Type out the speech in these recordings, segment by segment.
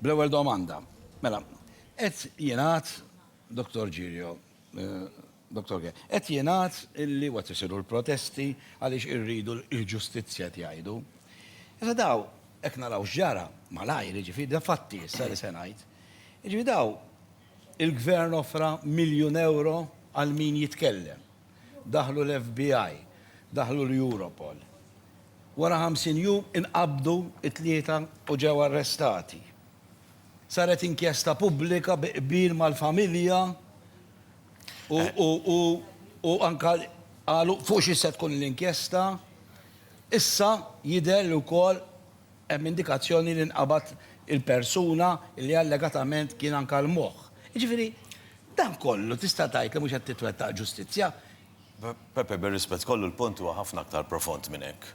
Bl-ewwel domanda, mela, qed jingħad, Dottor Girio, Dottor Ge, qed jingħad illi u qed isiru l-protesti għaliex irridu l-ġustizzja qed jgħidu. Issa daw, jekk naraw x'ġara, malajr, jiġifieri da fatti issa li se ngħid, jiġifieri daw il-Gvern offra miljun ewro għal min jitkellem. Daħlu l-FBI, daħlu l-Europol. Wara 50 jum inqabdu t-tlieta u ġew arrestati. Saret inkjesta pubblika bi qbil mal-familja u anke qalu fuq xi se tkun l-inkjesta. Issa jidher li wkoll Hemm indikazzjoni li nqabad il-persuna li allegatament kien anka l-moħħ. Jiġifieri, dan kollu tista' tgħid li mhux qed titwettaq ġustizzja? Pepe, bir-rispett kollu l-punt huwa ħafna aktar profond minn hekk.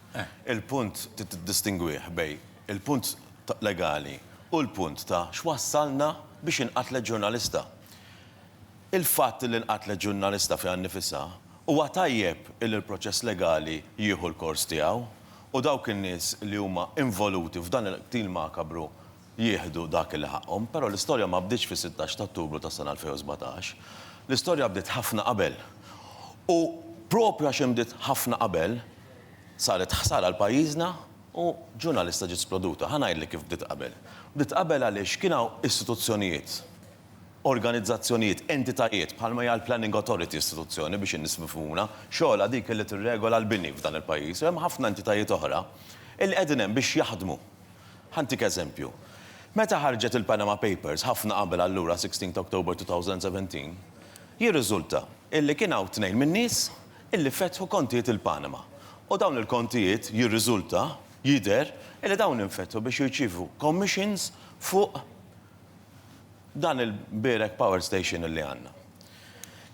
Il-punt trid tiddistingwih bejn il-punt legali u l-punt ta' x'wassalna biex inqatlet ġurnalista. Il-fatt li nqatlet ġurnalista fiha nnifisha huwa tajjeb li l-proċess legali jieħu l-kors tiegħu u dawk in-nies li huma involuti f'dan il-qtil makabru jieħdu dak li ħaqqhom. Però l-istorja ma bdietx fis-sittax ta' Ottubru tas-sena 2017. L-istorja bdiet ħafna qabel. U proprju għax inbdiet ħafna qabel, saret ħsara għal pajjiżna u ġurnalista ġiet sploduta. Ħa ngħidlek kif bdiet qabel. Bdiet qabel għaliex kien hawn istituzzjonijiet, organizzazzjonijiet, entitajiet, bħalma hija l-Planning Authority istituzzjoni, biex in-nies mifhmuna, xogħolha dik li tirregola l-bini f'dan il-pajjiż, u hemm ħafna entitajiet oħra li qegħdin hemm biex jaħdmu. Ħa ntik eżempju. Meta ħarġet il-Panama Papers, ħafna qabel allura 16 ta' October 2017, jirriżulta illi kien hawn tnejn min-nies illi fetħu kontijiet il-Panama. U dawn il-kontijiet jirriżulta, jidher, illi dawn infetħu biex jirċievu commissions fuq dan il-Berek Power Station li għandna.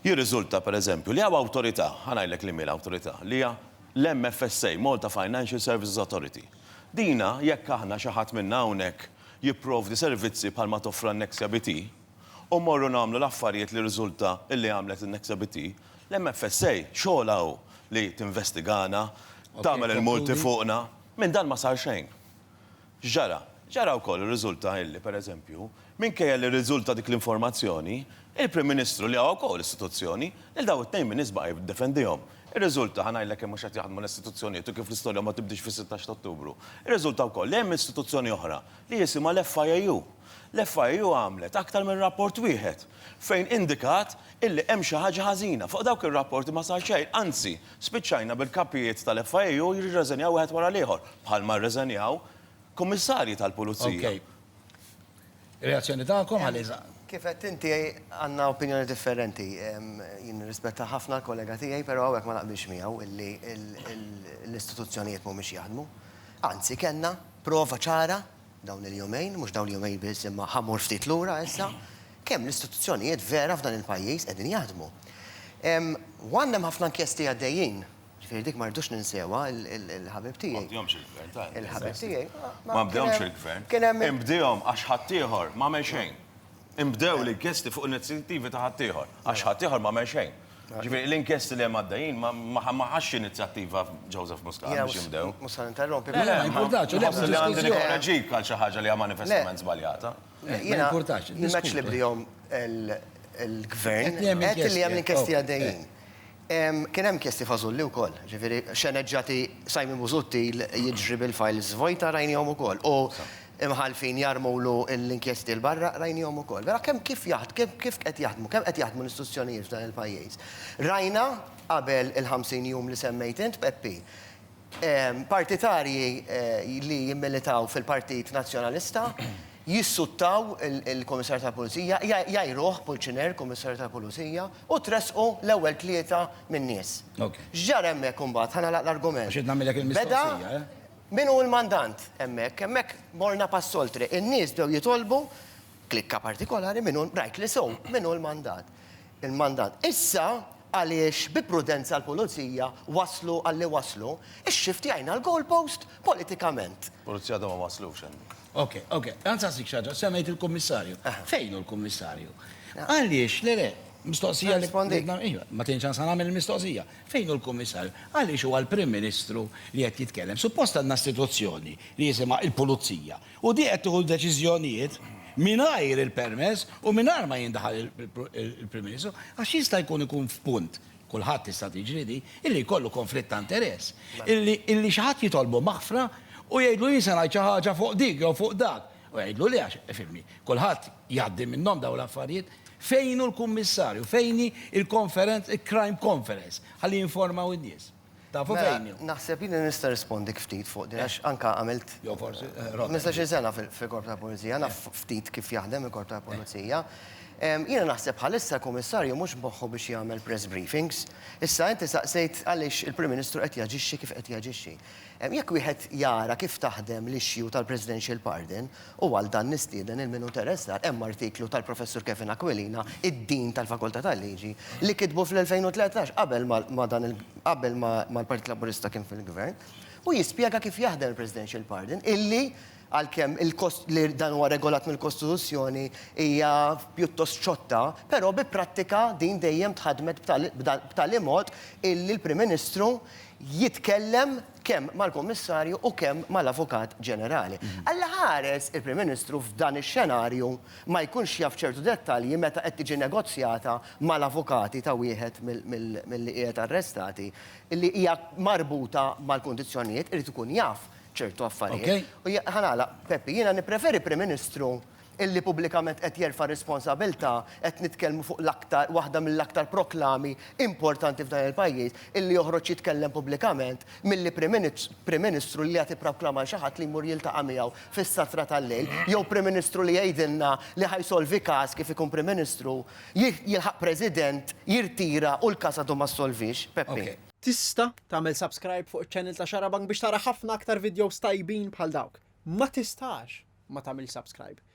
Jirriżulta, per eżempju, li hawn awtorità, ħa ngħidlek li min l-awtorità, li hija l-MFSA, Malta Financial Services Authority. Dina, jekk aħna xi ħadd minna hawnhekk jipprovdi servizzi bħal ma toffra n-Nexia BT, u mmorru nagħmlu l-affarijiet li jirriżulta li għamlet in-Nexia BT, l-MFSA xogħolha hu li tinvestigana, tagħmel il-multi fuqna. Minn dan ma sar xejn. X'ġara? Ġara wkoll u riżulta illi, per eżempju, minkejja li rriżulta dik l-informazzjoni, il-Prim Ministru, li huwa wkoll istituzzjoni, lil dawn it-tnejn min nies baqa' jiddefendihom. Irriżulta, ħa ngħidlek kemm mhux qed jaħdmu l-istituzzjonijiet u kif l-istorja ma tibdiex fis-sittax ta' Ottubru. Irriżulta wkoll li hemm istituzzjoni oħra li jisimha l-FIAU. L-FIAU għamlet aktar minn rapport wieħed fejn indikat illi hemm xi ħaġa ħażina. Fuq dawk ir-rapporti ma sar xejn, anzi, Spiċċajna bil-kapijiet tal-FIU jirreżenjaw wieħed wara l-ieħor, bħalma rreżenjaw kummissarji tal-pulizija. Ok. Reazzjoni tagħkom għaliha? Kif għedt inti, għandna opinjoni differenti. Jien nirrispetta ħafna l-kollega tiegħi, però hawnhekk ma naqbilx miegħu illi l-istituzzjonijiet mhumiex jaħdmu. Anzi, kellna prova ċara, dawn il-jumejn, mhux dawn il-jumejn biss imma ħa mmur ftit lura issa, kemm l-istituzzjonijiet vera f'dan il-pajjiż qegħdin jaħdmu. U għandna hemm ħafna inkjesti għaddejjin, ġifieri dik ma rridux ninsewha, il-ħabib tiegħi. Ma bdehomx il-Gvern, ta' il-ħabib tiegħi. Ma bdehomx il-Gvern. Kien hemm. Inbdehom għax ħaddieħor m'għamel xejn. Inbdew l-inkjesti fuq inizjattivi ta' ħaddieħor, għax ħaddieħor m'għamel xejn. Ġifieri l-inkjesti li hemm għaddejjin ma ħax inizjattiva Joseph Muscat biex jinbdew. Mhux se ninterrompi. Le, ma jimpurtax. Inħoss li għandi nikkoreġik għal xi ħaġa li hija manifestament żbaljata. Ma jimpurtax. Jiena ma ngħidx li bdejhom il-gvern, qed li hemm l-inkjesti għaddejjin. Kien hemm inkjesti fażulli wkoll, ġifieri xeneġġati Simon Busuttil jiġri bil-files vojta rajnihom ukoll u imħallfin jarmulu l-inkjesti 'l barra rajnihom ukoll. Vera kemm kif kif qed jaħdmu, kemm qed jaħdmu l-istituzzjonijiet f'dan il-pajjiż. Rajna qabel il-50 jum li semmejt int, Peppi, partitarji li jimmilitaw fil-Partit Nazzjonalista jissuttaw il-Kummissarju tal-Pulizija, jgħajruh, Pulċiner, Kummissarju tal-Pulizija, u tressqu l-ewwel tlieta min-nies. X'ġara hemmhekk imbagħad? Ħa nagħlaq l-argument. Għax rid nagħmilek il-mistoqsija, eh? Beda min hu l-mandant hemmhekk. Hemmhekk morna pass oltre. In-nies bdew jitolbu, klikka partikolari, min hu, rajt li sew, min hu l-mandat. Il-mandant. Issa, għaliex bi prudenza l-Pulizija waslu għalli waslu, ixxiftiajna l-goal post politikament. Pulizija għadhom ma waslux hemm. Ok, ok. Għan nsaqsik xi ħaġa, semmejt il-Kummissarju. Fejn hu l-Kummissarju? Għaliex, le le, mistoqsija li ridna, ejwa, ma tgħinx għan sa nagħmel il-mistoqsija. Fejn hu l-Kummissarju? Għaliex huwa l-Prim Ministru li qed jitkellem? Suppost għandna istituzzjoni li jisimha l-Pulizija. U din qed tieħu l-deċiżjonijiet mingħajr il-permess u mingħajr ma jindaħal il-Prim Ministru, għax jista' jkun ikun f'punt, kulħadd tista' tiġri din, illi jkollu konflitt ta' interess. Illi illi xi ħadd jitolbu maħfra u jgħidlu jien se ngħid xi ħaġa fuq dik jew fuq dak. U jgħidlu le għax, ifhimni, kulħadd jgħaddi minnhom dawn l-affarijiet. Fejn hu l-Kummissarju? Fejn hi l-konferenz, il-Crime Conference, ħalli jinformaw in-nies? Tafu fejn hu? Naħseb li nista' nirrispondik ftit fuq din għax anke għamilt. Jew forsi. Ħmistax-il sena fil-Korp tal-Pulizija, naf ftit kif jaħdem il-Korp tal-Pulizija. Jiena naħseb bħalissa l-Kummissarju mhux moħħu biex jagħmel press briefings. Issa inti saqsejt għaliex il-Prim Ministru qed jaġixxi kif qed jaġixxi. Jekk wieħed jara kif taħdem l-issue tal-Presidential Pardon, U għal dan nistieden lil min hu interessat, hemm artiklu tal-Professur Kevin Aquilina, id-Dean tal-Fakultà tal-Liġi, li kitbu fl-2013, qabel ma ma dan il qabel ma ma l-Partit Laburista kien fil-Gvern, u jispjega kif jaħdem il-Presidential Pardon, illi għalkemm il-kost li dan huwa regolat mill-Kostituzzjoni hija pjuttost xotta, però bi prattika din dejjem tħaddmet b'tali b'tali mod illi l-Prim Ministru jitkellem kemm mal-Kummissarju u kemm mal-Avukat Ġenerali. Allaħares il-Prim Ministru f'dan ix-xenarju ma jkunx jaf ċertu dettalji meta qed tiġi negozjata mal-avukati ta' wieħed milli qiegħed arrestati li hija marbuta mal-kundizzjonijiet, irid ikun jaf ċertu affarijiet. U ħa nagħlaq, Peppi, jiena nippreferi Prim Ministru illi pubblikament qed jerfa' r-responsabilità, qed nitkellmu fuq l-aktar, waħda mill-aktar proklami importanti f'dan il-pajjiż, illi joħroġ jitkellem pubblikament milli Prim Ministru li jagħti proklama lil xi ħadd li jmur jiltaqa' miegħu fis-satra tal-lejl, jew Prim Ministru li jgħidilna li ħa jsolvi każ kif ikun Prim Ministru, jilħaq President, jirtira u l-każ għadu ma ssolviex. Peppi. Tista' tagħmel subscribe fuq iċ-channel ta' Xarabank biex tara ħafna aktar videos tajbin bħal dawk. Ma tistax ma tagħmilx subscribe.